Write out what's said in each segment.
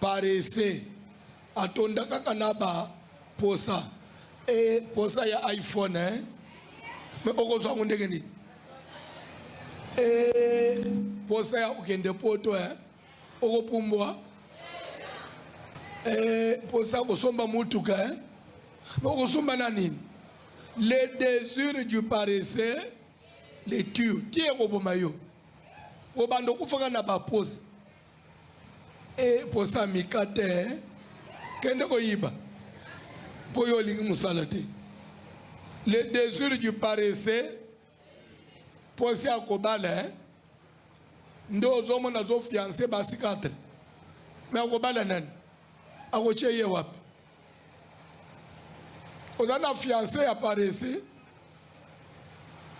parese atonda kaka na ba posa e posa ya iphone eh? me okozwa yango ndenge nini e posa ya kokende poto eh? okopumbwa e posa ya kosomba motuka eh? me okosomba na nini le désir du parese le tue ti ekoboma yo obanda okufaka na baposa e posa mika te kende koyiba mpo yo olingi mosala te le désir du paresseux posa ya kobala eh? nde ozomona azofianse basi 4 me akobala nani akotie ye wapi oza na fiance ya parese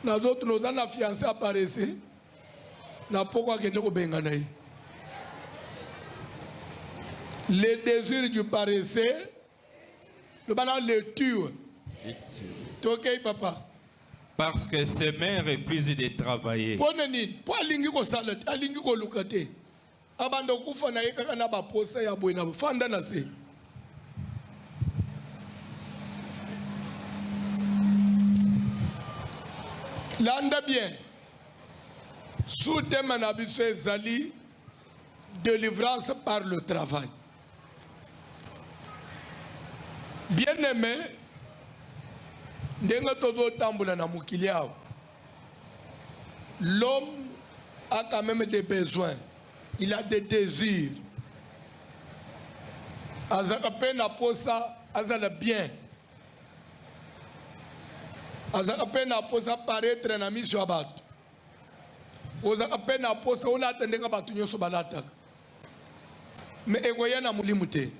nazotuna oza na fiance ya parese na poko akende kobengana ye le désir du paresseux loba na lecture tokei papa parce que ses mains refusent de travailler mpo na nini mpo alingi kosala te alingi koluka te abanda okufa na ye kaka na baposa ya boye na fanda na se landa bien sous-thème na biso ezali délivrance par le travail bien aimé ndenge tozotambola na mokili awa L'homme a quand même des besoins. Il a des désirs. Azaka pe na posa azala bien. Azaka pe na posa paraître na miso ya bato. Ozaka pe na posa olata ndenge bato nyonso balataka. Mais ekoya na molimo te.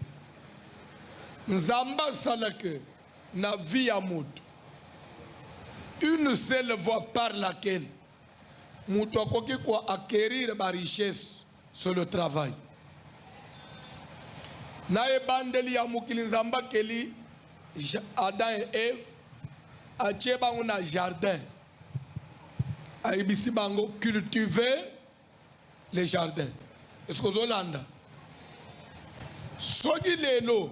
Nzambe asala que na vie ya mutu une seule voie par laquelle mutu akoki ko acquérir ba richesse sur le travail na ebandeli ya mokili nzambe akeli adam et eve atie bango na jardin ayebisi bango cultiver le jardin eske ozolanda soki lelo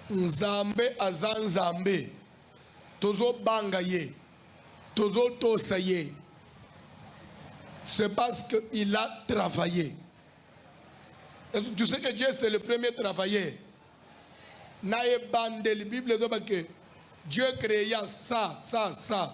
nzambe aza nzambe tozobanga ye tozotosa ye c'est parce que il a travaillé tu sais que dieu c'est le premier travailleur na ebandeli bible ezoba que dieu créa ça ça ça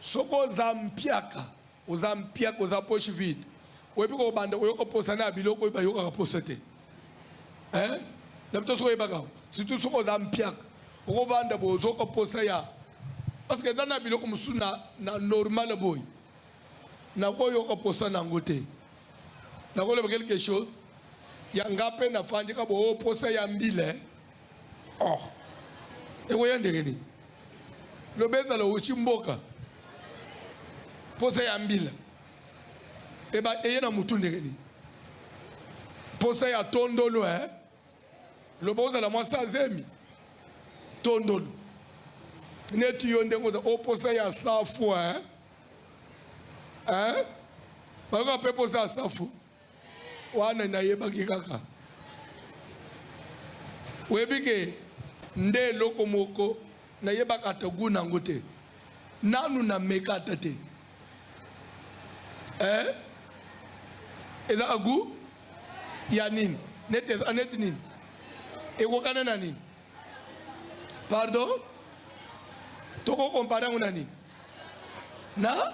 Soki oza mpiaka, oza mpiaka, oza poche vide, oyebi kobanda koyoka posa na biloko oyo bayokaka posa te eh? na bito soki oyebaka surtout soki oza mpiaka okovanda boye ozoka posa ya parce que eza na biloko mosusu na, na normal boye nakoyoka posa na yango te nakoleba quelque chose yanga mpe nafandika boye posa ya mbila eh? Oh, ekoya ndenge nini? Loba ezala oshi mboka posa ya mbila eba eye na mutu ndenge nini? Posa ya tondolo eh? Loba ozala mwasi azemi tondolo neti yo ndenge oza oposa oh, ya safu eh? Eh? bayoka mpe posa ya safu wana nayebaki kaka oyebi ke nde eloko moko nayebaka ata gu nango te nanu nameka ata te eh? ezaka gu ya nini neti eza neti nini ekokana na nini pardon tokokompare yango na nini na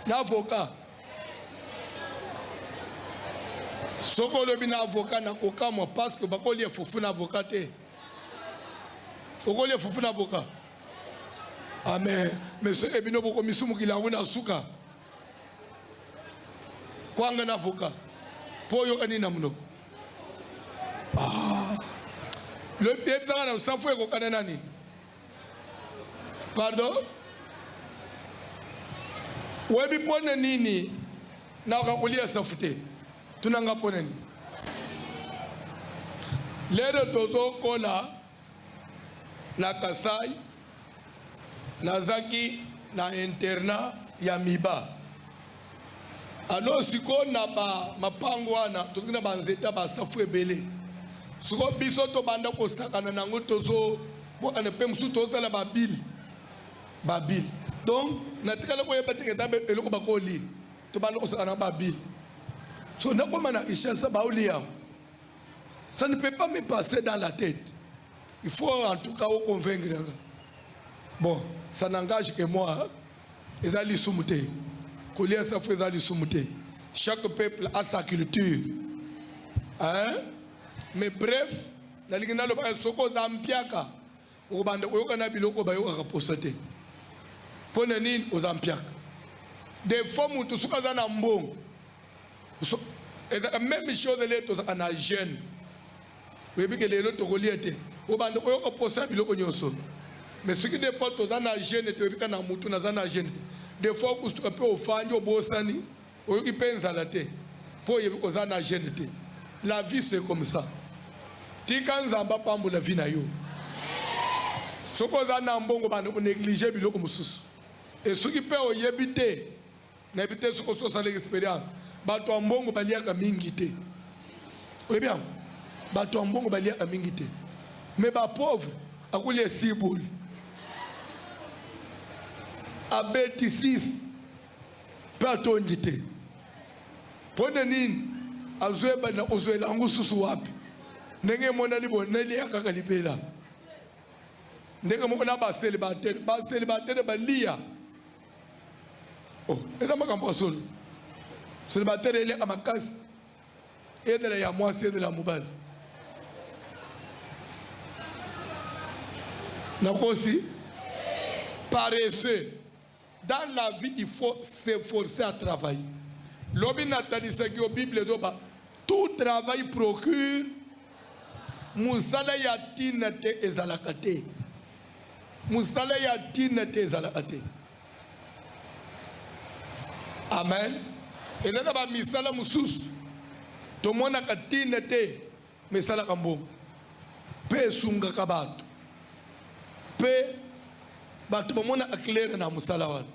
na avocat soki olobi na avocat na kokamwa parce que bakolia fufu na avocat te okolia fufu na avocat ame ah, monsieur ebino bokomisumukila yango na suka kwanga na avocat mpo oyoka nini na monoko ah. lobi ebisaka na safu ekokana na nini Pardon? Webi mpo na nini nakoka kolia safu te? Tuna nga mpo na nini? Lelo tozokola na Kasai, nazaki na internat ya Miba. Ano siko na ba mapango wana tozali na ba nzeta ba safu ebele siko biso tobanda kosakana na yango tozo bwakana mpe mosusu tozala babile babile donc natikala koyeba te eza eloko bakolia tobanda kosakana na babile so nakoma na richesse baolia yango ça ne peut pas me passer dans la tête il faut en tout cas oconvaincre nga bon ça n'engage que moi hein? Eza lisumu te. Kolia safu eza lisumu te. Chaque peuple a sa culture. Hein? Mais bref, nalingi naloba soko oza mpiaka okobanda koyoka na biloko bayokaka posa te. Mpo na nini oza mpiaka? Defo moto soki aza na mbongo so, ezaka meme chose le tozaka na jeune oyebi ke lelo tokolia te obanda oyoka posa ya biloko nyonso mais soki des fois toza na jeune te oyebika na mutu naza na jeune te des fois okusuka mpe ofandi obosani oyoki mpe nzala te mpo oyebi oza na jeune te la vie c'est comme ça tika nzambe apambola vie na yo soki oza na mbongo banda koneglige biloko mosusu esoki mpe oyebi te nayebi te soki osi osalaki experience bato ya mbongo baliaka mingi te oyebi yango bato ya mbongo baliaka mingi te me bapauvre akolia esiboli abeti 6 mpe atondi te mpo na nini azoyeba na kozwela yango susu wapi ndenge emonani boneli ya kaka libela ndenge moko na baselibatere baselibatere baliya Oh, eza makambo ya solo selibatele eliaka makasi ezala ya mwasi ezala ya mobali nakosi paresseux dans la vie il faut s'efforcer à travailler lobi natanisaki yo bible ezoba tout travail procure mosala ya ntina te ezalaka te Musala ya tina te ezalaka te. Amen. Eza na ba misala mosusu tomonaka tina te mesalaka mbongo mpe esungaka bato mpe bato bamonaka claire na mosala wana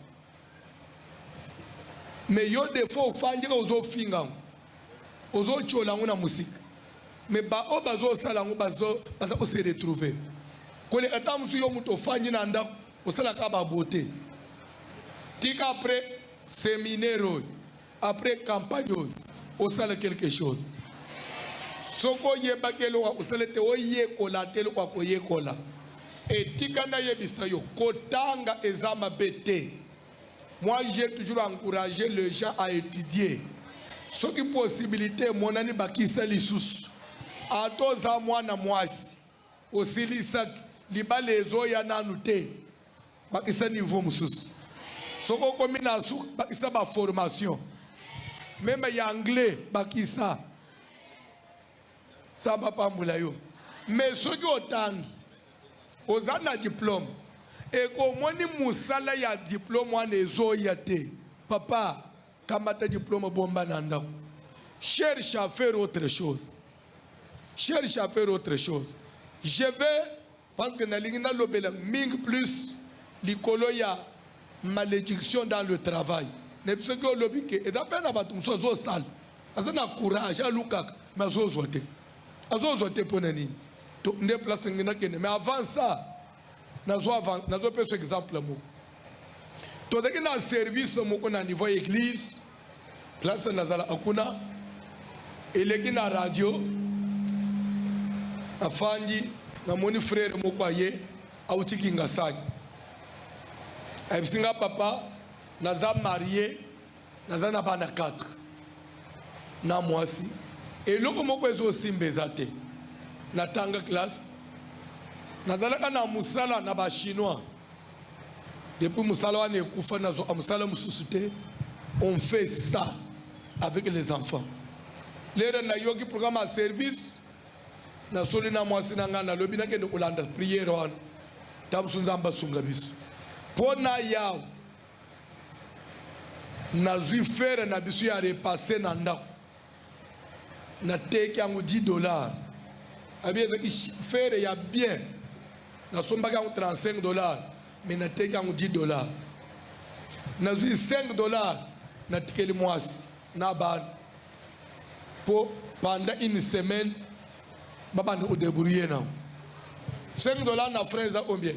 me yo defo ofandika ozofinga yango ozo chola yango na musika me baoyo bazosala yango baza kose retrouve koleka ntango mosusu yo moto ofandi na ndako osalaka babote tika apres seminaire oyo apres campagne oyo osala quelque chose soki oyebaki eloko akosala ete oyekola te eloko akoyekola etika nayebisa yo kotanga eza mabe te Moi j'ai toujours encouragé les gens à étudier. Soki possibilité emonani bakisa lisusu. Ata oza mwana mwasi osilisaki libala ezoya nanu te, bakisa niveau mosusu. Soki okomi na suka bakisa ba formation meme ya anglais bakisa samba pambula yo mais soki otangi Oza na diplome et omoni musala ya diplome wana ezoya te papa kamata diplome bomba na ndako cherche à faire autre chose cherche à faire autre chose je vais parce que nalingi nalobela mingi plus likolo ya malédiction dans le travail na biso ki olobi ke eza mpe na bato mosusu azosala aza na courage alukaka me azozwa te azozwa te mpo na nini to nde place nge nakende mais avant ça nazo avant nazo pesa exemple moko tozalaki na service moko na niveau ya église place nazalaka kuna eleki na radio afandi namoni frere moko aye auti kingasani ayebisi nga papa naza marie naza na bana 4 na mwasi eloko moko ezosimba eza te natanga classe nazalaka na mosala na bachinois depuis mosala wana ekufa nazwaka mosala mosusu te on fait ça avec les enfants lelo nayoki programme ya service nasoli na mwasi na ngai nalobi nakende kolanda priere wana ntango mosusu nzambe asunga biso mpo na yawe nazwi fere na biso ya repasse na ndako nateki yango 10 dollars abi ezalaki fere ya bien nasombaki yango 35 dollars me nateki yango 10 dollars nazwi 5 dollars natikeli mwasi na bana po pendant une semaine babanda ko debrouiller na 5 dollars na frais eza combien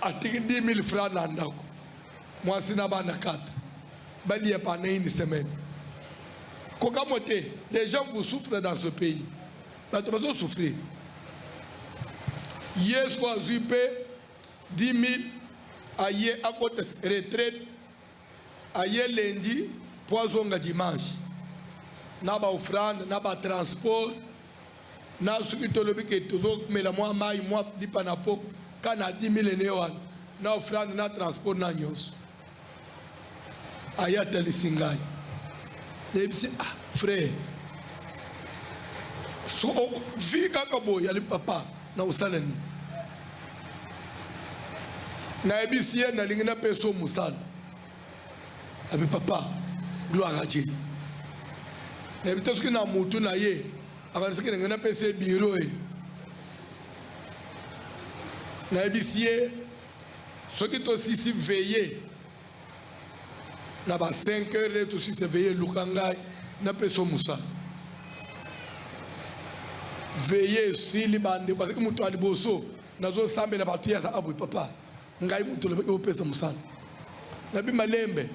atiki 10 000 francs na ndako mwasi na bana 4 balia pendant une semaine kokamwa te les gens vous souffrent dans ce pays bato bazo souffrir yesu azwi mpe 10 000 aye akota retraite Aye lundi mpo azonga dimanche na ba offrande na ba transport na soki tolobi ke tozomela mwa mai mwa lipa na po ka na 10 000 ene wana na offrande na transport na nyonso aye atalisi ngai nayebisi ah frère so vi kaka boye ali papa Nakosala nini? Nayebisi ye nalingi napesa yo mosala. Abi papa gloire a Dieu. Nayebi te soki na mutu na ye akanisaki ndenge napesa ye biro ye. Nayebisi ye soki tosisi veye na ba 5 heures nde tosi se veille luka ngai napesa mosala veille esili bandeko azalaki moto ya liboso nazosambela bato ye aza abwe papa ngai moto olobaki opesa mosala nabi malembe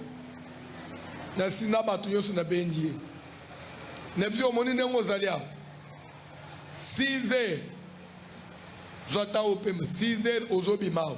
nasi na bato nyonso nabendi ye na biso omoni ndenge ozali awa 6 heures zwa ntango opema 6 heures ozobima awa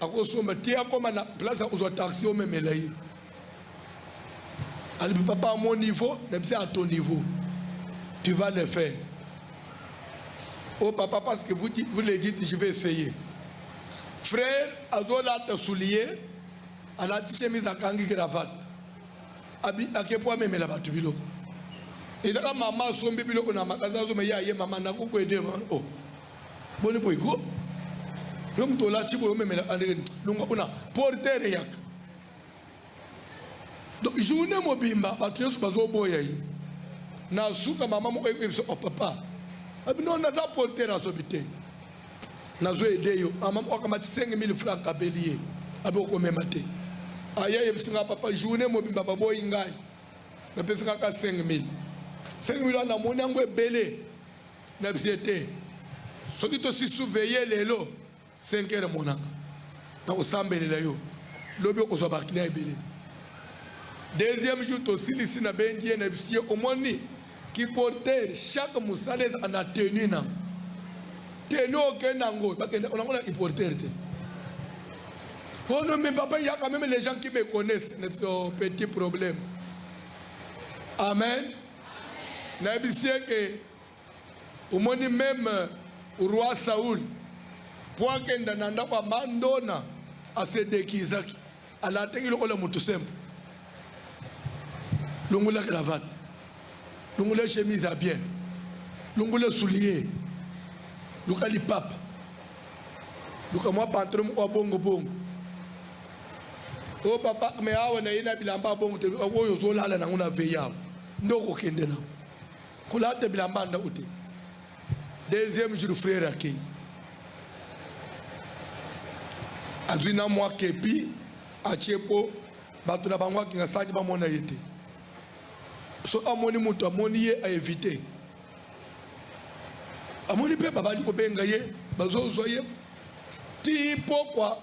akosomba te akoma na place ya kozwa taxi omemela ye alibi papa à mon niveau na biso à ton niveau tu vas le faire oh papa parce que vous, vous le dites je vais essayer frère azolata soulier alati chemise akangi cravate ake mpo amemela bato biloko ezaka mama asombi biloko na makasi azomeye aye mama nakokuede o oh. boni boye ko yo moto olati boye omemela andreni longa kuna portere yaka donc journée mobimba bato nyonso bazoboya ye na suka mama moko ekoyebisa o oh, papa abino naza portere azobi te nazo ede yo mama moko akamati 5000 franc abeli ye abi okomema te aya yebisi nga papa journée mobimba baboyi ngai napesi kaka 5000 5000 wana namoni yango ebele na bse te soki tosisu veye lelo 5 heure monanga na kosambelela yo lobi okozwa baclient ebele deuxième jour tosilisi na bendi ye na bisi ye omoni kiporter chaque mosala ezaka na tenu na tenu okenda yango bakenda nango na kiporter te Oh non, mais papa, il y a quand même les gens qui me connaissent. C'est un petit problème. Amen. nayebisi ye ke omoni meme roi Saul mpo akenda na ndako ya mandona asedekizaki alataki lokola moto sempo longola cravate longola chemise ya bien longola soulier luka lipapa luka mwa pantalon moko ya bongo bongo Oh papa, mais awa na ye na bilamba bongo te oyo ozolala nango na veille awa nde okokende nango kolata bilamba ndako te. Deuxième jour frère akei azwi na mwa kepi atie mpo bato na bango akinga saki bamona ye te. So amoni moto amoni ye aevite amoni mpe babali kobenga ye bazozwa ye ti pokwa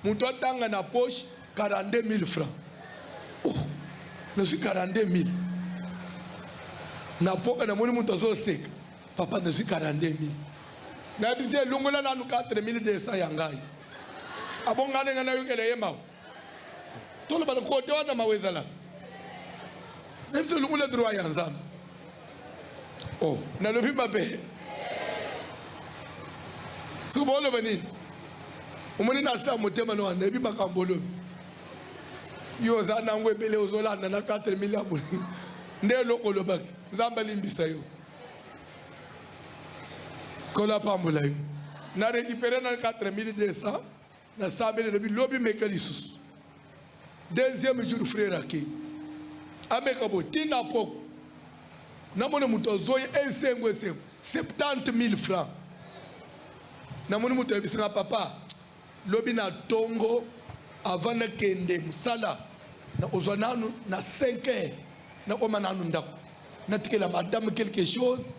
Moto atanga na poche 42000 francs. Oh, nazwi 42000 na poka, namoni moto azoseka. Papa, nazwi 42000 na bisi elungola nanu 4200 ya ngai. Abongani ngai nayokela ye mawa. Tolobana kote wana mawa ezalaka. Na biso elungola droit ya Nzambe. Oh, nalobi mabe soki baoloba nini? omoni na sa motema na wana ebi makambo olobi yo oza nango ebele ozolanda na 4 mili ya bolingo nde eloko olobaki nzambe alimbisa yo kolo apambola yo na récupéré na 4200 na sambeli lobi lobi meka lisusu deuxième jour frère ake ameka bo tina poko namoni moto azoi esengo esengo 70 000 francs namoni moto ayebisaka papa lobi na tongo avant nakende mosala nakozwa nanu na 5 heures nakoma nanu ndako natikela madame quelque chose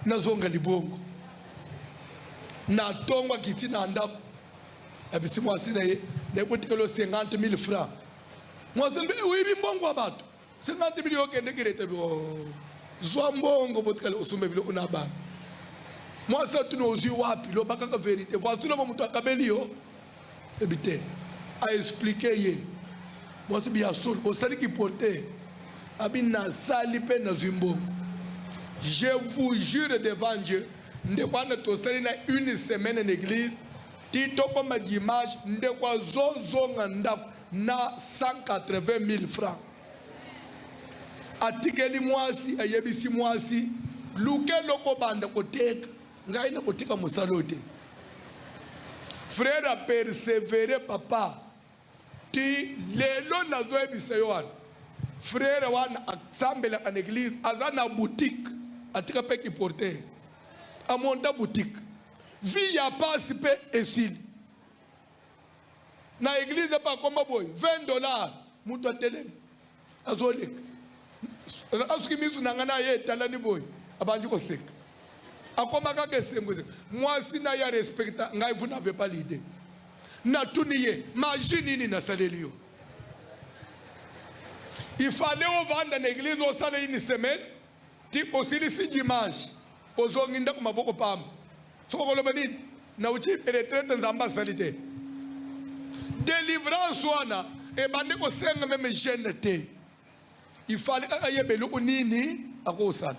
nazonga libongo na tongo akiti na ndako na bisi mwasi na ye na ekotikelo 50 mille francs mwasi mbe oyebi mbongo ya bato 50 mille okendeki leta oh, zwa mbongo botikali osomba biloko na bana mwasi atuni ozwi wapi loba kaka verité voici loba moto akabeli yo ebi te aexplike ye mwasi bi ya solo osali kiporte abi nasali mpe nazwi mbongo je vous jure devant dieu Ndeko wana tosali na une semaine na eglise ti tokoma dimanche, ndeko azozonga ndako na 180 000 francs. Atikeli mwasi, ayebisi mwasi luka eloko obanda koteka, ngai nakotika mosala oyo te. Frere apersevere papa Ti lelo nazoyebisa yo wana frere wana asambelaka na eglise aza na boutique atika mpe kiporter amonta boutique vi ya pasi mpe esili na eglise mpe akoma boye 20 dollar moto atelemi azoleka asoki misu na ngai na ye etalani boye abandi koseka akoma kaka esengo esengo mwasi na ye arespekta ngai vous n'avez pas l'idée natuni ye maji nini nasaleli yo ifale ovanda na eglize osala ini semaine ti osilisi dimanche ozongi ndako maboko pamba Soki okoloba nini nauti retraite nzambe asali te delivrance wana ebandi kosenga meme gene te ifali kaka ayeba eloko nini akosala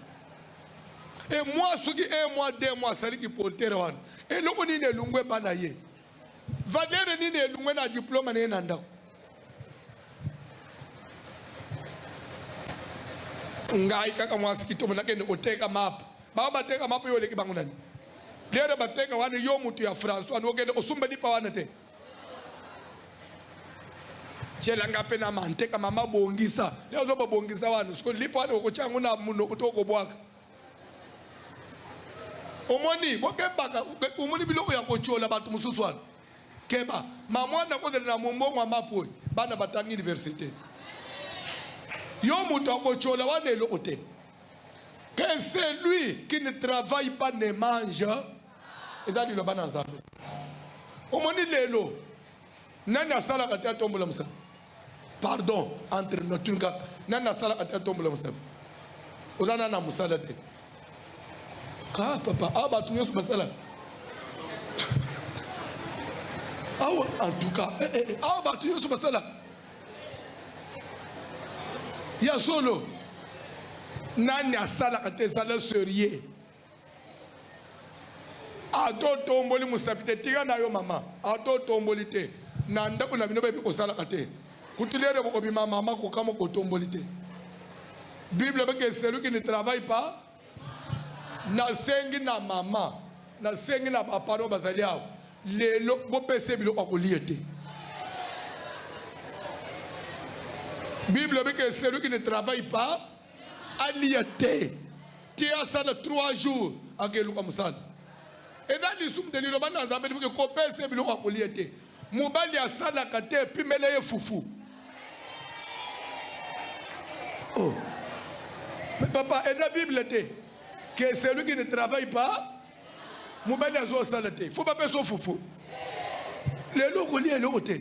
e mwa soki e mwa de mwa asali kiportere wana eloko nini elungu ebana ye Valere nini elungwe na diploma na ye na ndako? ngai kaka mwasi kitomo nakende koteka mapu bao bateka mapu yo oleki bango nani dere bateka wana yo mutu ya france wana okende kosumba lipa wana te tyelanga mpe na manteka mama bongisa leo ozo babongisa wana siko lipa wana okotya yango na monoko to okobwaka omoni bokebaka omoni biloko ya kotyola bato mosusu wana keba mamwana kokende na mombongo ya mapoi bana batangi université yo moto akotyola wana eloko te que celui qui ne travaille pas ne mange eza liloba na nzambe omoni lelo Nani asalaka te atombola mosaka? Pardon, entre nous tuni kaka. Nani asalaka te atombola mosaka? Oza nani na mosala te? Ah papa, ah bato nyonso basalaka. Awa en tout cas, eh, eh, eh awa bato nyonso basalaka. Ya solo. Nani asalaka te ezala serieux? ata otomboli mosapi te tika na yo mama ata otomboli te na ndako na bino bayebi kosalaka te kutu lere bokobima mama kokamwa kotomboli te bible ebaki celui qui ne travaille pas nasengi na mama nasengi na baparo bazali awa lelo bopesa biloko ya kolia te bible ebaki celui qui ne travaille pas alia te ti asala 3 jours akeluka mosala eza lisumu te liloba na nzambe liboke kopesa ye biloko ya kolia te mobali asalaka te epimela ye fufu oh. mais papa eza bible te que celui qui ne travaille pas mobali azo sala te fo bapesa fufu lelo okolia eloko te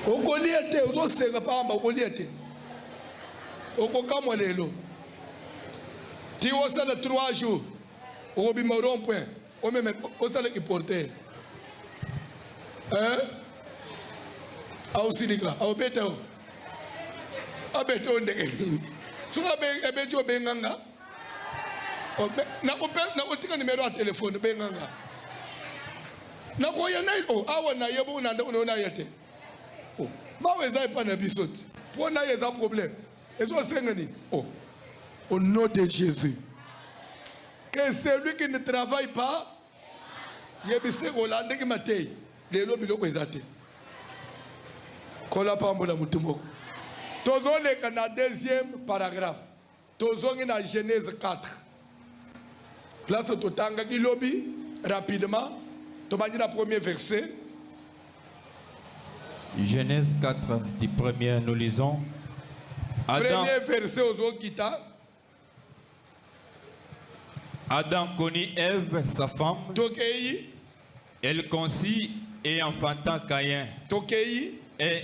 okolia te ozosenga pamba okolia te okokamwa lelo ti osala 3 jours okobima rond point omeme osalaki porter eh? aosilika aobeta o abeta o ndenge nini soki abeti obenga nga nakotika nimero ya telefone obenga nga nakoya nai o awa na ye bongo na ndako nayo naya te bawa eza epai na biso te mpo na ye eza problème Ezo senga nini? Oh. Au nom de Jésus. Que celui qui ne travaille pas yebise kolanda ndenge matei lelo biloko eza te kola pambola motu moko tozoleka na deuxième paragraphe tozongi na genèse 4 place totangaki lobi rapidement tobandi na premier verset genèse 4 du premier nous lisons Adam, premier verset ozokita adam connut eve sa femme tokei elle conçut et enfanta caïn tokei et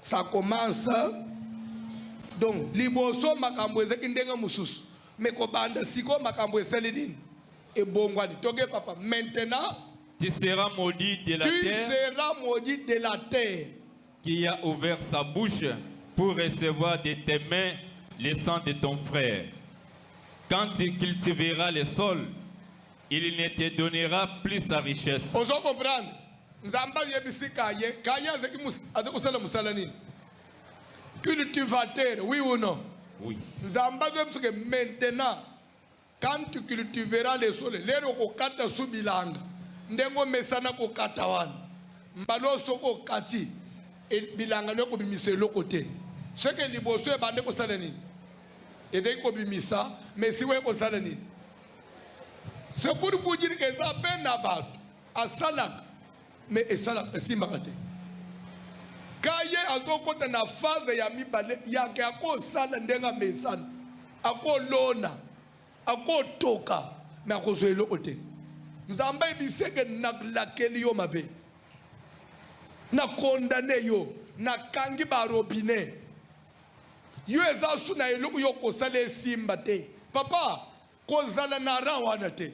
ça commence donc liboso makambo ezaki ndenge mosusu me kobanda sikoyo makambo esali nini ebongwani toke papa maintenant tu seras maudit de la tu terre seras maudit de la terre qui a ouvert sa bouche pour recevoir de tes mains le sang de ton frère quand tu cultiveras le sol il ne te donnera plus sa richesse ozo comprendre Nzambe ayebisi kaye kaye azaki azaki kosala mosala nini cultivateur oui ou non oui. Nzambe azoyebisa ke maintenant quand tu cultiveras les sols lelo okokata su bilanga ndenge omesana kokata wana mbala oyo soki okati e, bilanga no ekobimisa eloko te soki liboso ebande kosala nini ezali kobimisa mesi oye kosala nini c'est pour vous dire que eza mpe na bato asalaka mais esalaka esimbaka te ka ye azokota na phase ya mibale yake akosala ndenge amesana akolona akotoka me akozwa eloko te nzambe ayebiseke nalakeli yo mabe na kondane yo nakangi barobine yo eza su na eloko yo kosala esimba te papa Kozala na rang wana te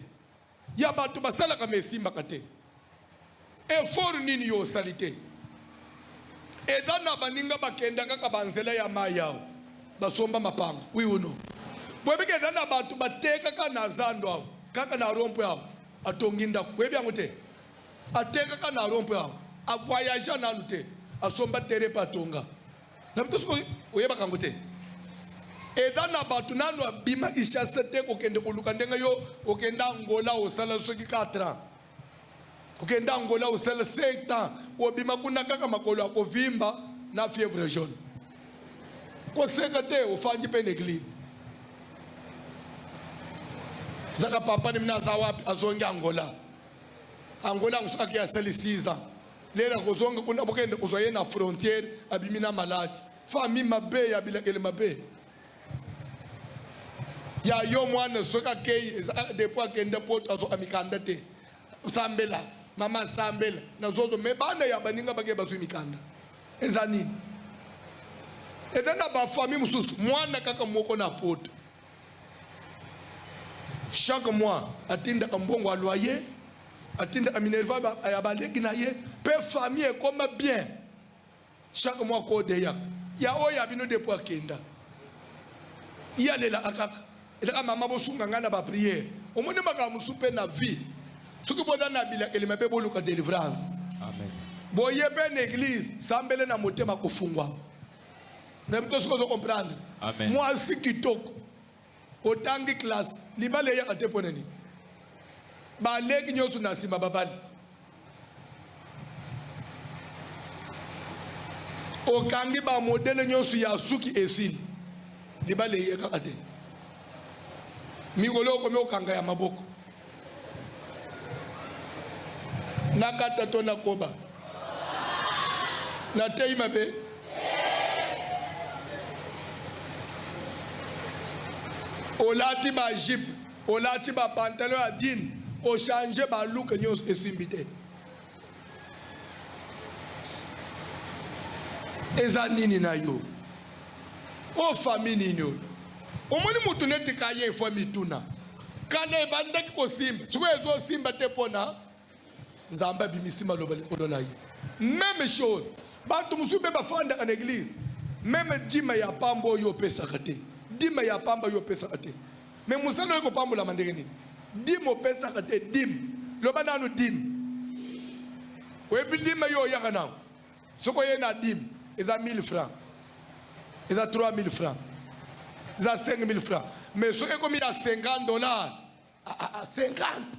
ya bato basalaka ma esimbaka te. Effort nini yo osali te? Eza na baninga bakenda kaka banzela ya mai awa basomba mapango oui ou non? boyebi ke eza na bato batekaka na zando awa kaka na rompwe awa atongi ndako boyebi yango te atekaka na rompwe awa avoyagea nanu te asomba tere mpe atonga na mpe soki oyebaka yango te eza na bato nano abima ishase te kokende koluka ndenge yo okenda angola osala soki 4 ans kokenda angola osala 7 ans obima kuna kaka makolo ya kovimba na fièvre jaune koseka te ofandi mpe na eglize zaka papa nimi naza wapi azongi angola angola yango soki ake asali 6 ans Lera kozonga kuna bokende kozwa ye na frontière abimi na maladi famille mabe ya bilakeli mabe ya yo mwana soki akei eza ah, depo akende poto azoka mikanda te sambela mama sambela na zozo me bana ya baninga bakei bazwi mikanda eza nini eza na bafamille mosusu mwana kaka moko na poto chaque mois atindaka mbongo ya loyer atindaka minerva ya baleki na ye mpe famille ekoma bien chaque mois kodeyaka ya oyo ya bino depo akenda ye alelaka kaka elaka mama bosunga ngai na bapriere omoni makambo mosusu mpe na vie soki boza na bilakeli mabe boluka delivrance boye mpe na eglize sambele na motema kofungwama na bito soki ozo comprendre mwasi kitoko otangi classe libala eyaka te mpo na nini baleki nyonso na nsima babali okangi bamodele nyonso ya suki esili libala eyekaka te mikolo okomi okanga ya maboko nakata to nakoba nateyi mabe olati ba jipe olati ba pantalon ya dine ochange ba luke nyonso esimbi te eza nini na yo o fami nini oyo omoni motu neti kaye efo mituna kala ebandaki kosimba sikoyo ezosimba te mpona nzambe abimisi maloba likolo na ye meme chose bato mosusu mpe bafandaka na eglize meme dima ya pamba oyo opesaka te dima ya pamba oyo opesaka te Mais mosala oye kopambolama ndenge nini? Dime opesaka te dime. Loba nanu dime. Oyebi dime yo oyaka nango. Soki oye na dime eza 1000 francs. Eza 3000 francs. Eza 5000 francs. Mais soki ekomi ya 50 dollars, ah, ah, 50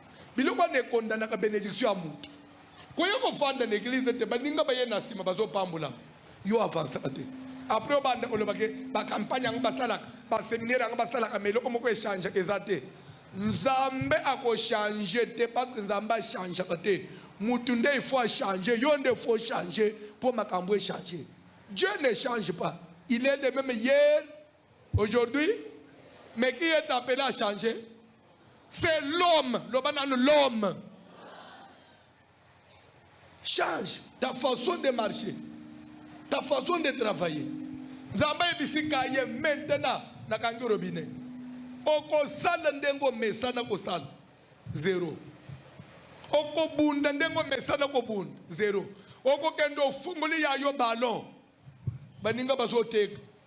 biloko wana ekondanaka benediction ya moto koya kofanda na eglize ete baninga baye na nsima bazopambolama yo avansaka te apres obanda koloba ke bakampagne yango basalaka baseminaire yango basalaka ma eloko moko echangeaka eza te nzambe akochange te parce que nzambe achangeaka te motu nde il faut achange yo nde faut change mpo makambo echange dieu ne change pas il est le même hier Aujourd'hui, mais qui est appelé à changer C'est l'homme, l'homme. Change ta façon de marcher, ta façon de travailler. Nzamba ebisika ye maintenant na kangi robinet. Okosala ndenge omesana kosala zero. Okobunda ndenge omesana kobunda zero. Okokende ofungoli ya yo ballon baninga bazoteka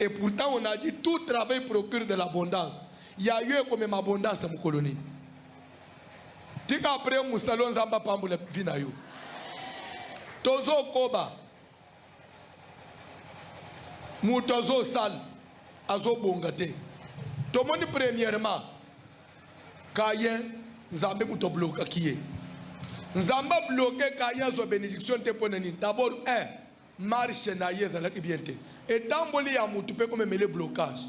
Et pourtant on a dit tout travail procure de l'abondance. Ya yo ekomema abondance mokolo nini? Tika après musalo nzamba pambola vie na yo. Tozo koba. Moto azo sal azo bonga te. Tomoni premièrement Kayen Nzambe moto bloka kiye. Nzambe bloke Kayen zo bénédiction te pona nini? D'abord 1 marche na ye ezalaki bien te etamboli ya mutu mpe komemele blocage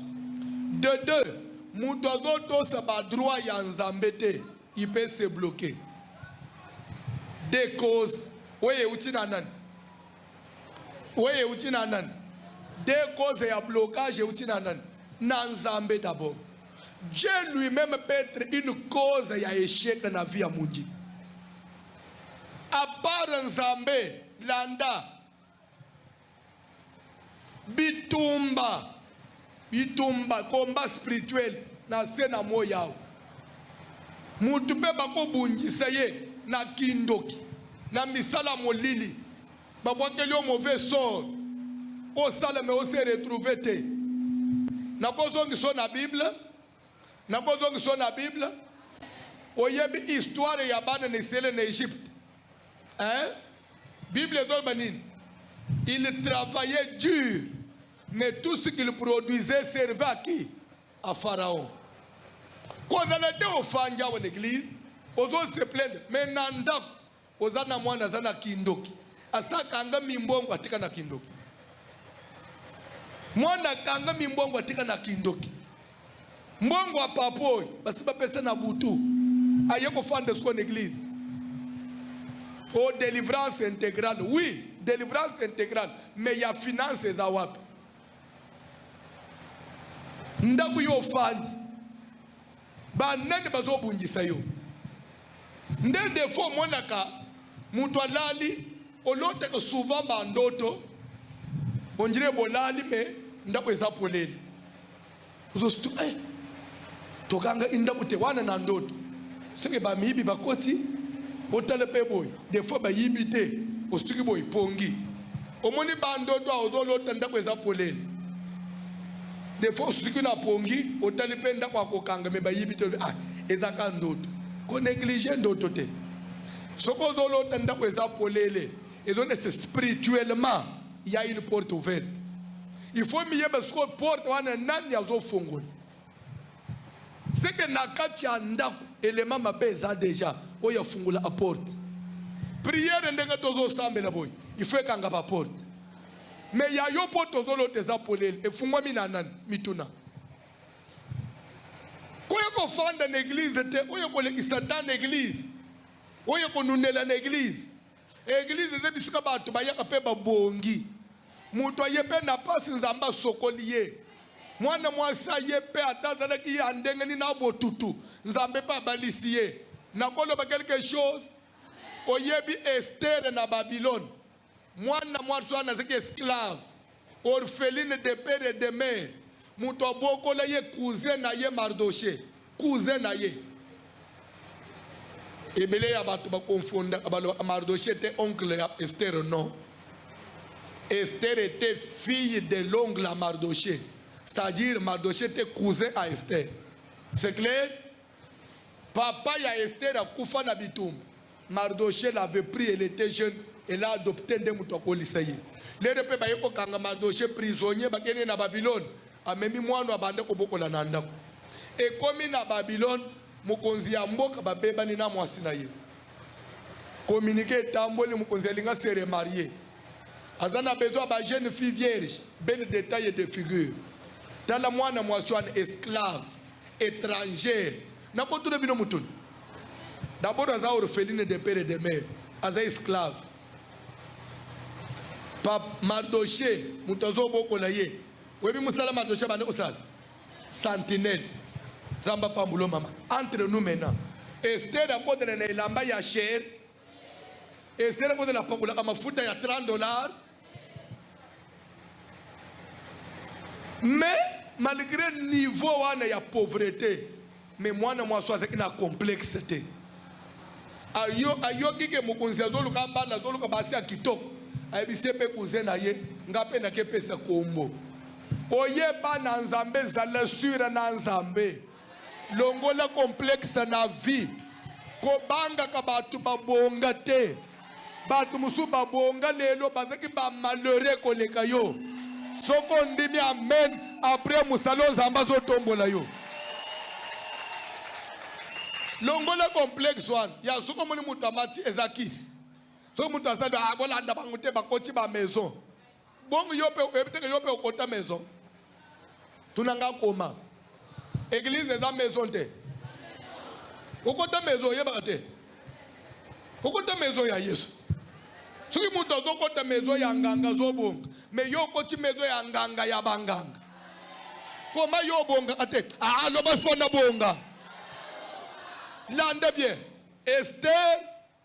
de deux mutu azotosa badroit ya nzambe te il peut se bloquer de cause oyo euti na nani oyo euti na nani de cause ya blocage euti na nani na nzambe d'abord dieu lui-même peut être une cause ya echec na vie ya mondimi Apart Nzambe landa bitumba bitumba combat spirituel na se na moi yao mutu mpe bakobundisa ye na kindoki na misala molili babwakeli yo mauvais sort osala me ose retrouve te nakozongisa yo na bible Nakozongisa na Bible. Oyebi histoire ya bana na Israël na Egypte? Hein? Bible ezoloba nini? Il travaillait dur, mais tout ce qu'il produisait servait à qui? À Pharaon. Kozala te ofandi awa na église, ozo se plaindre, mais na ndako Oza na mwana aza na kindoki asakanga mimbongo atika na kindoki mwana akanga mimbongo atika na kindoki mbongo ya papa oyo basi bapesa na butu aye kofanda siko na eglise o oh, delivrance intégrale oui delivrance intégrale mais ya finance eza wapi ndako yo ofandi Ba nani bazo bundisa yo? Nde defaut omonaka mutu alali olotaka souvent ba ndoto ondire bolali me ndako eza polele ozostu eh, tokanga indako te wana na ndoto soki bamiyibi bakoti otala mpe boye defaut bayibi te ostuki boye pongi omoni ba ndoto a ozo lota ndako eza polele des fois osuki na pongi otali mpe ndako ya kokanga me bayibi te ah eza ka ndoto ko neglige ndoto te soki ozo lota ndako eza polele ezo nese spirituellement ya une porte ouverte il faut miyeba sikoyo porte wana nani azofongola seke na kati ya ndako elema mabe eza deja oyo afungola aporte priere ndenge tozosambela boye ifo ekanga baporte me ya yo mpo tozolota eza polele efungwami na nani mituna koye kofanda na eglize te oyo kolekisa ta na eglize oyo konunela na eglize Eglise eza bisika bato bayaka mpe babongi. Moto aye mpe na mpasi, Nzambe asokoli ye. Mwana mwasi aye mpe ata azalaki ya ndenge nini na botutu, Nzambe mpe abalisi ye. Nakoloba quelque chose, oyebi Estere na Babilone? Mwana mwasi wana azalaki esclave. orpheline de père et de mère moto abokola ye cousin na ye mardoche cousin na ye ebele ya bato bakonfondaka balobaka mardoche ete oncle ya estere non estere ete fille de l'ongle ya mardoche c'est-à-dire mardoche ete cousin ya estere c'est clair Papa ya Esther akufa na bitumba. Mardochee l'avait pris, elle était jeune, elle a adopté nde moto akolisa ye. Lelo mpe baye kokanga Mardochee prisonnier, bakende na Babylone, amemi mwana abanda kobokola na ndako. Ekomi na Babylone, mokonzi ya mboka babebani na mwasi na ye. Communiqué etamboli, mokonzi alinga se remarier. Aza na besoin ba jeune fille vierge, belle de taille et de figure. Tala mwana mwasi wana esclave. etrangère na botuna bino mutuni d'abord aza orpheline de père et de mère aza esclave pa mardoche moto azobokola ye oyebi mosala mardoche abanda kosala sentinelle nzambe apambulo mama entre nous maintenant ester akotana na elamba ya chere ezela mpo na pakolaka mafuta ya 30 dollars mais malgré niveau wana ya pauvreté mais mwana mwasi azalaki na complexe te ayoki ke mokonzi azoluka abanda azoluka basi ya kitoko ayebisi ye mpe kuze na ye nga mpe nakepesa kombo oyeba na nzambe zala sure na nzambe Longola complexe na vie, kobangaka bato babonga te. Bato mosusu babonga lelo bazalaki ba malheureux koleka yo. Soki ondimi amen, apres mosala oyo Nzambe azotombola yo. Longola complexe wana ya soki omoni moto amati eza kisi. Soki moto asali akolanda ah, bango te bakoti ba maison Bongo yo pe oyebi teke yo pe okota maison. Tuna nga koma. Église eza maison te. Okota maison oyebaka te. Okota maison ya Yesu. Soki moto azokota maison ya nganga azobonga, mais yo okoti maison ya nganga ya banganga. Koma yo obongaka te. Ah, loba fona bonga. Landa bien. Esther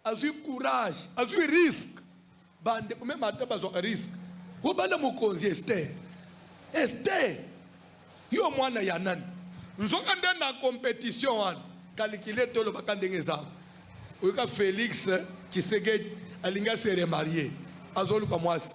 azwi courage azwi risque bande meme ata bazwaka risque obanda mokonzi ester ester yo mwana ya nani nzoka nde na competition wana kalikile tolobaka ndenge eza oyoka felix tshisekedi alingi aseremarie azoluka mwasi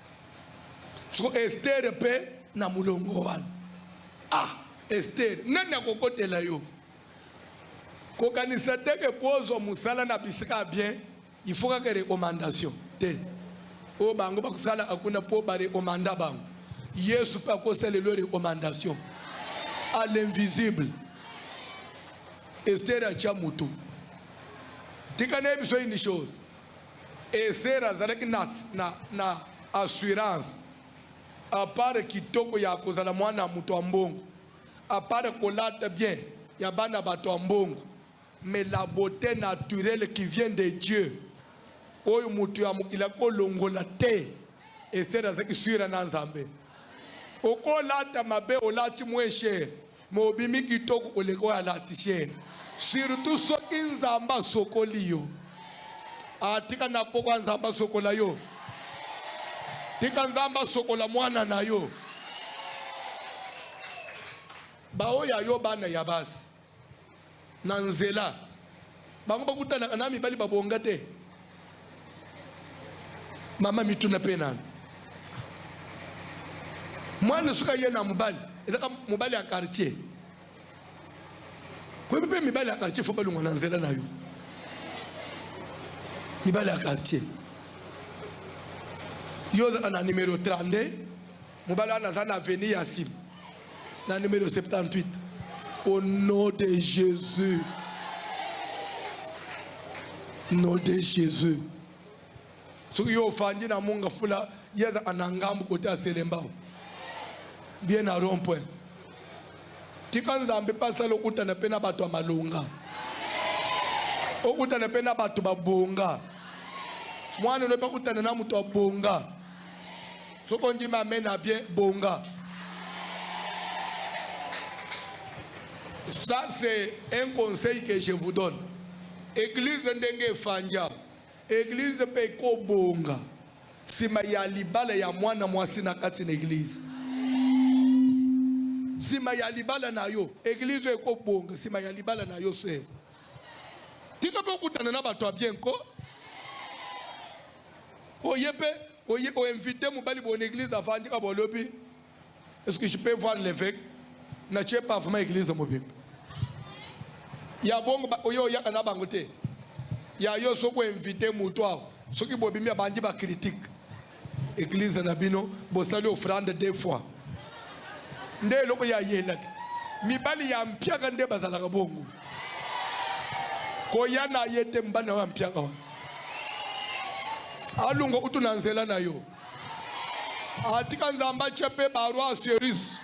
siko estere mpe na molongo wana ah estere nani akokotela yo kokanisa te ke mpo ozwa mosala na bisika ya bien ifo kaka recommandation te oyo bango bakosala akuna mpo barekomanda bango yesu mpe akosala lelo recommandation à l'invisible estere atya motu tika nayebi so une chose Esther azalaki na, na, na assurance apare kitoko ya kozala mwana ya moto ya mbongo, apare kolata bien ya bana bato ya mbongo, mais la beauté naturelle qui vient de Dieu oyo moto ya mokili akolongola te. Esther azalaki sure na Nzambe. Okolata mabe olati mweshere Mobimi kitoko koleka oyo alatisie, surtout soki Nzambe asokoli yo. Atika ah, na pokwa Nzambe asokola yo. Tika Nzambe asokola mwana na yo. Baoyo ya yo bana ya basi Na nzela, bango bakutanaka na mibali babonga te. Mama mituna mpe nanu mwana soki aye na mobali ezaka mobali ya quartier koyebi mpe mibali ya quartier fo balongwa na nzela na yo mibali ya quartier yo ozaka na numero 32 Mobali wana aza na avenue ya sim na numero 78 au nom de Jésus. Nom de Jésus. Soki yo ofandi na munga fula yeza anangambu kote aselembao bien na rond point tika nzambe mpe asala okutana mpe na bato ya malonga okutana mpe na bato babonga mwana no mpe akutana na moto abonga soki ondimi amen na bien bonga ça c'est un conseil que je vous donne église ndenge efanja église mpe ekobonga nsima ya libala ya mwana mwasi na kati na église nsima ya libala na yo église ekobonga nsima ya libala na yo se tika mpe okutana na bato ya bien ko oye mpe Oye o invite mobali bon église avandi ka bolobi est-ce que je peux voir l'évêque na tie pavement église mobimba ya bongo oyo oyaka na bango te ya yo soki oinvite moto awa soki bobimi abandi bacritique église na bino bosali offrande deux fois nde eloko ya yelaki mibali ya mpiaka nde bazalaka bongo koya na ye te mobali na yo ya mpiaka wana alunga kutu na nzela na yo atika nzambe atye mpe baroi ya serise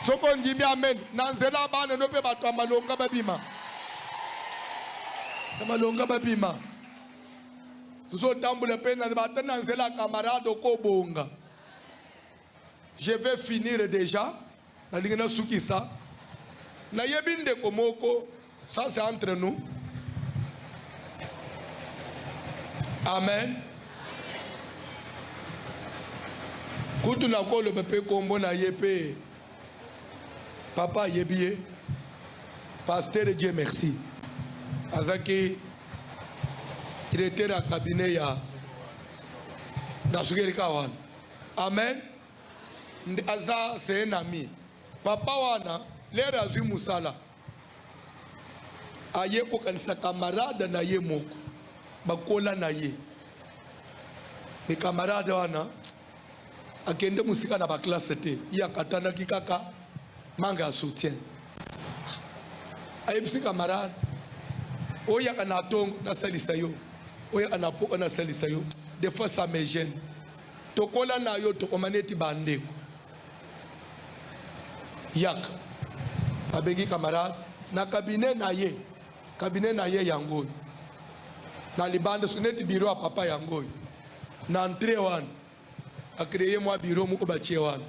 soki ondimi amen na nzela bana no mpe bato ya malonga babima ya malonga babima tozotambola mpe ata na nzela ya kamarade okobonga Je vais finir deja, nalingi nasukisa. Nayebi ndeko moko, ça c'est entre nous. Amen. kutu nakoloba mpe nkombo na ye mpe papa ayebi ye pasteur dieu merci azalaki directeur ya cabinet ya na sukelika wana Amen. Aza c'est un ami. Papa wana lere azwi musala aye kokanisa kamarade na ye moko bakola na ye me kamarade wana akende mosika na baklasse te ye akatanaki kaka manga ya soutien ayebisi kamarade oyaka na tongo nasalisa yo oyaka na poko nasalisa yo des fois ça me gêne tokola na yo tokoma neti bandeko yaka abengi camarade na kabine na ye kabine na ye yango oyo na libanda so neti biro ya papa yango oyo na entre wana akreye mwa biro moko batie wana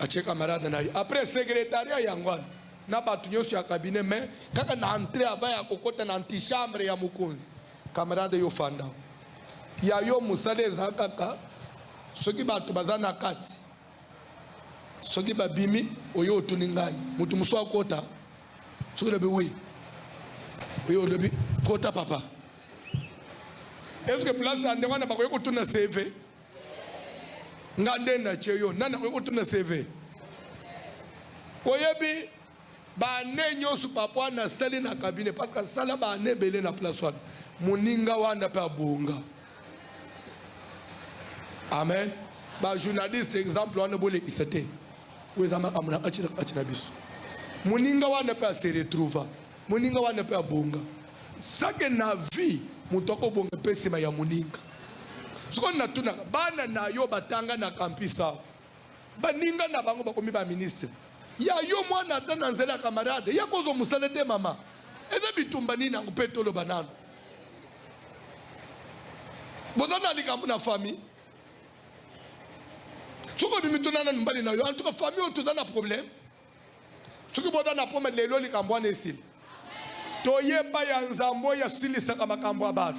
atie camarade na ye après secretariat yango wana na bato nyonso ya kabine me kaka na entre ava ya kokota na antichambre ya mokonzi Camarade yo fanda ya yo musala eza kaka soki bato baza na kati soki babimi oyo otuni ngai moto mosusu akota soki olobi wi oyo olobi kota papa eske place ya ndenge wana bakoki kotuna cv nga nde natye yo nani akoki kotuna cv oyebi ba annee nyonso papa wana asali na cabinet parce que asala ba annee ebele na place wana moninga wana mpe abonga amen bajournaliste exemple wana bolekisa te oyo eza makambo na kati na kati na biso moninga wana mpe ase retrouva moninga wana mpe abonga sake na vie moto akobonga mpe nsima ya moninga sikoyo natunaka bana na yo batanga na kampisa Baninga na bango bakomi ba ministre ya yo mwana ata na nzela ya camarade ya kozwa mosala te mama eza bitumba nini yango mpe toloba nano boza na likambo na famille soki obimi tuna nanu mbali na yo en tout cas famille oyo toza na problème soki boza na pome lelo likambo wana esili toyeba ya nzambe oyo asilisaka makambo ya bato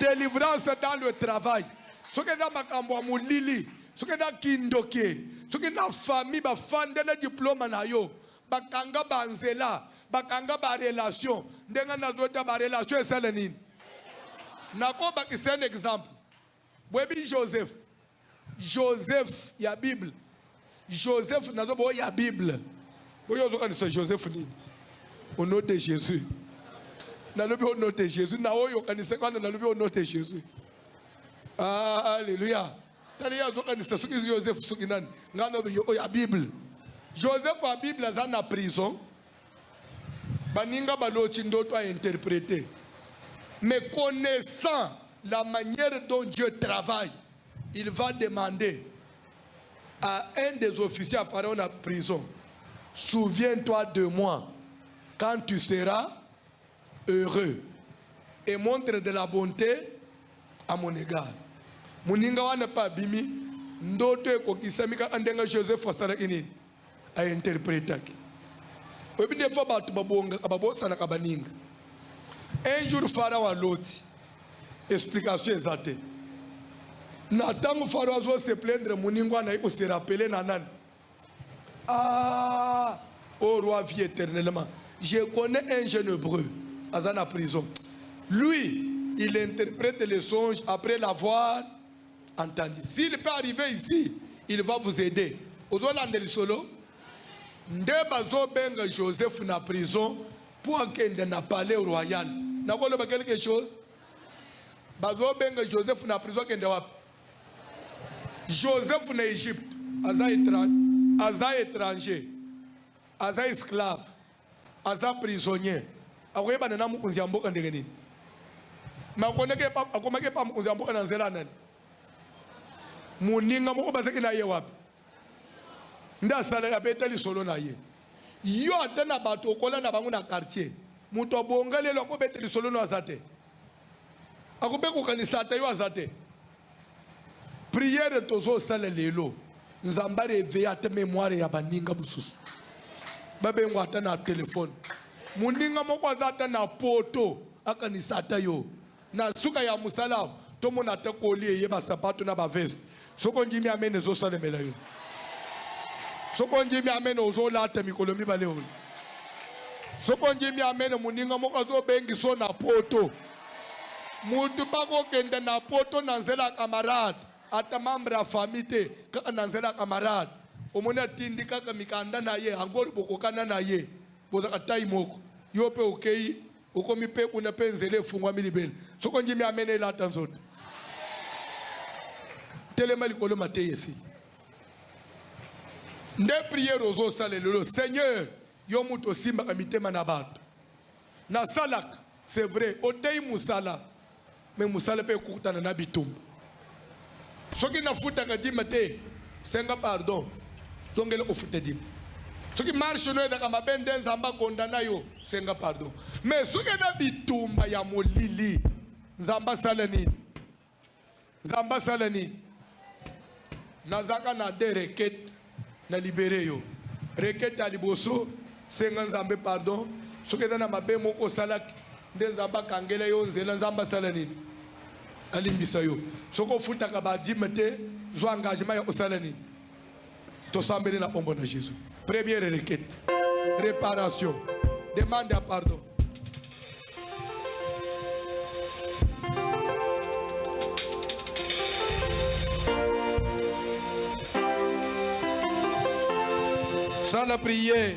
delivrance dans le travail soki eza makambo ya molili soki eza kindoke soki na famille bafande na diplome na yo bakanga banzela bakanga barelation ndenge nazota barelation esala nini nakobakisa un exemple Boyebi Joseph, Joseph ya Bible, Joseph nazo bo ya Bible. Boyo ozokanisa Joseph nini? Au nom de Jésus. Nalobi au nom de Jésus. Na oyo okanisa kana nalobi au nom de Jésus. Ah, alléluia. Tani ya ozokanisa soki Joseph soki nani? Ngano oyo ya Bible. Joseph ya Bible aza na prison. baninga baloti ndoto a interprete mais connaissant la manière dont Dieu travaille il va demander à un des officiers à Pharaon la prison souviens-toi de moi quand tu seras heureux et montre de la bonté à mon égard moninga wana mpe abimi ndoto ekokisami kaka ndenge joseph asalaki nini a interpretaki oyebi des fois bato babongaka babosanaka baninga un jour farao aloti explication eza te na ntango farao azo se plaindre moningo anayi koserapele na nani ah, o oh roi vie éternellement je connais un jeune hebreu aza na prison lui il interprète les songes après l'avoir Entendu. S'il peut arriver ici, il va vous aider. Ozolanda lisolo? Nde bazobenga Joseph na prison mpo akende na palais royal. Nakoloba quelque chose? Bazobenga Joseph na prison akende wapi? Joseph na Egypte aza étranger, aza esclave. aza prisonnier akoyebana na mokonzi ya mboka ndenge nini me akomaki epa mokonzi ya mboka na nzela ya nani moninga moko bazaki na ye wapi nde asaleli abeta lisolo na ye yo ata na bato okola na bango na quartier moto abonga lelo akobeta lisolo no aza te akobe kokanisa ata yo aza te Prière tozo sala lelo Nzambe a reveille ata memoire ya baninga mosusu babengo ata na telefone. Moninga moko aza ata na poto akanisa ata yo na suka ya mosala tomona ata koli eye basapato na baveste soki ondimi amene ezosalemela yo soki ondimi amene ozolata mikolo mibale oyo soki ondimi amene moninga moko azobengiso na poto mutu bakokende na poto na nzela ya camarade ata membre ya famille te kaka na nzela ya camarade omoni atindi kaka mikanda na ye yango bokokana na ye bozaka tai moko yo mpe okei okomi mpe kuna mpe nzela efungwami libele soko ndimi amene elata nzoto telema likolo mateya esili nde priere ozosala lelo seigneur yo moto osimbaka mitema na bato nasalaka C'est vrai, oteyi musala mais musala pe ekutana na bitumba. Soki nafutaka dime te, senga pardon, zongela kofuta dime. Soki marche no ezaka mabe nde Nzambe akonda na yo, senga pardon. Mais soki na bitumba ya molili, Nzambe asala nini? Nzambe asala nini? Nazaka na de requete na libere yo. Requete ya liboso, senga Nzambe pardon soki eza na mabe moko osalaki, nde Nzambe akangela yo nzela. Nzambe asala nini? Alimbisa yo. Soki ofutaka badime te, zwa engagement ya kosala nini? tosambeli na kombo na jesus première requête réparation demande ya pardon sala prière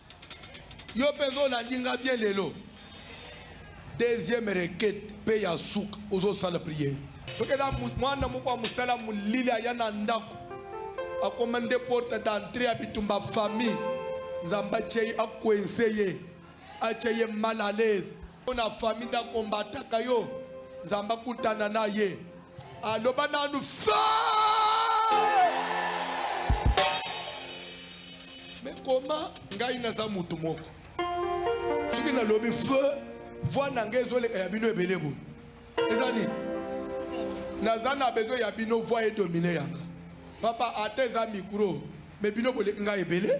Yo peza olandi nga bien lelo deuxième requête pe ya suka ozosala prière soki eza mwana moko ya mosala molili aya na ndako akoma nde porte d'entrée ya bitumba famille nzambe atye ye akuense ye atye ye mal à l'aise mpo na fami nde akombataka yo nzambe akutana na ye aloba nanu fa me koma ngai naza motu moko soki nalobi fe voi na ngai ezoleka ya bino ebele boye eza nini naza na besoin ya bino voi edomine yanga papa ata eza mikro me bino boleki ngai ebele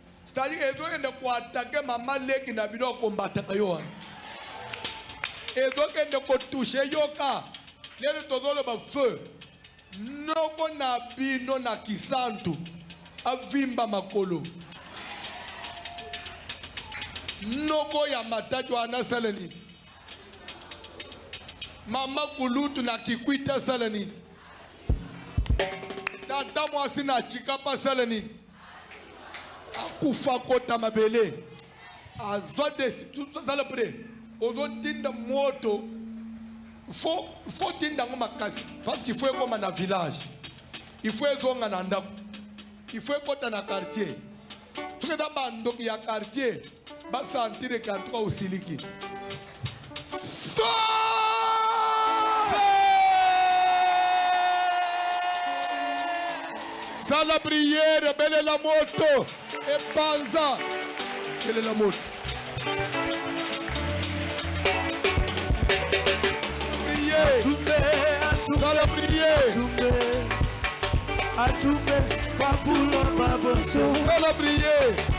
Stali ezokende koatake mama leki na bino akombataka yo wana ezokende kotushe yoka lelo tozoloba feu noko na bino na kisantu avimba makolo noko ya matatu wana asala nini mama kulutu na kikwita asala nini tata mwasi na chikapa asala nini akufa kota mabele azwa zala pre ozotinda moto fo fo tinda yango makasi parce qu'il faut ekoma na village il faut ezonga na ndako il faut ekota na quartier soki eza bandoki ya quartier basantire quartier osiliki sala priere belela moto epanza belela moto sala priere atumbe babulo baboso sala priere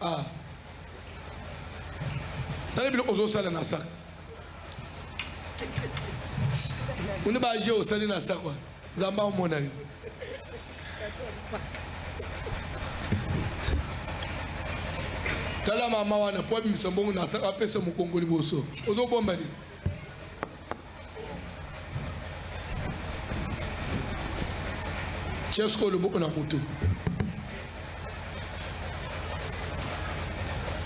Ah. Tala biloko ozosala na sac. Une ba je osali na sac wana. Nzambe amona yo. tala mama wana po abimisa mbongo na sac apesa mokongo liboso ozobomba nini tia sikoyo loboko na motu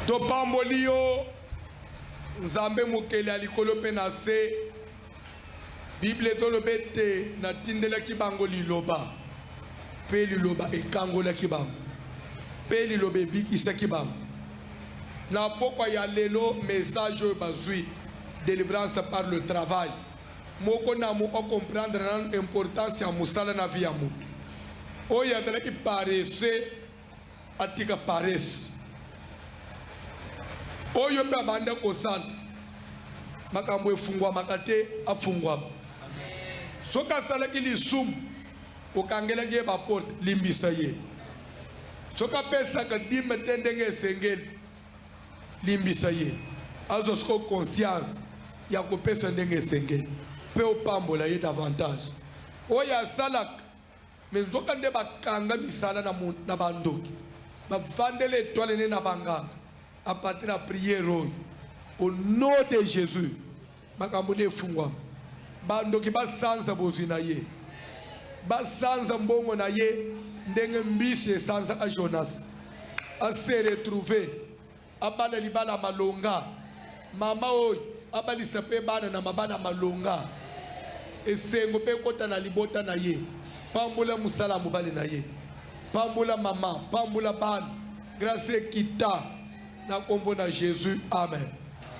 topamboli yo nzambe mokeli ya likolo mpe na se biblia ezoloba ete natindelaki bango liloba mpe liloba ekangolaki bango mpe liloba ebikisaki bango na mpokwa ya lelo mesaje oyo bazwi Delivrance par le travail. Moko na moko a comprendre nanu importance ya mosala na vie ya moto. Oyo azalaki paresse atika paresse. Oyo mpe abanda kosala makambo efungwamaka te afungwama. Soki asalaki lisumu okangelaki ye baporte, limbisa ye. soki apesaka dime te ndenge esengeli Limbisa ye azwa sikoyo conscience ya kopesa ndenge esengeli mpe opambola ye davantage oyo asalaka me nzoka nde bakanga misala na, na bandoki bavandela etwale ne na banganga apate na priere oyo au nom de Jesus. makambo nde efungwama bandoki basanza bozwi na ye basanza mbongo na ye ndenge mbisi esanzaka jonas ase retrouve abala libala malonga mama oyo abalisa mpe bana na mabala malonga esengo mpe ekota na libota na ye pambola mosala ya mobali na ye pambola mama pambola bana grâce ekita na nkombo na jésus amen